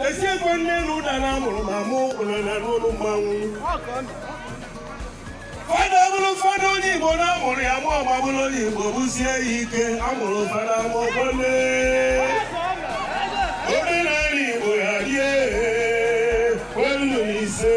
esiekwe nne na ụda na amụrụ ma mụ ụlọ na n'ụlọ mmanwụ fada bụrụ fada onye igbo na amụrụ ya amụ ọ ga-abụrụ onye igbo bụsie ya ike amụrụ fada ma ọgbọle omenala igbo ya die welu ise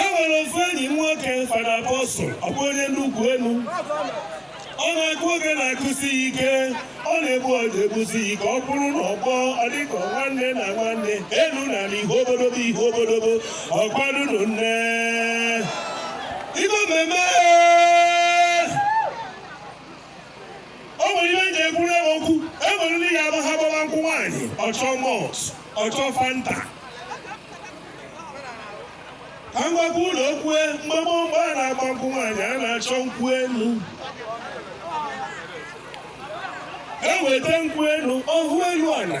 e nwere ofu enyi m nwoke fada apọstụl ọ bụ onye nnukwu enu ọ na-akụ ogene akụsi ya ike ọ na-egbu ọja egbusi ya ike ọ bụrụ na ọ gbọọ ọ dịka nwanne na nwanne elu na ala ihe obodobo ihe obodobo ọgbalụnụ nne ime mmemme o nwere ihe eji ekwuru ewe okwu e nwere ndị ya ha gbaba nkwụ nwaanyị ọ chọọ malt ọ chọọ fanta ka m gwakwa ụnụ okwu e mgbe gboo mgbe a na-agba nkwụ nwaanyị a na-achọ nkwụ elu eweta nkwụ elu ọhụ elu ala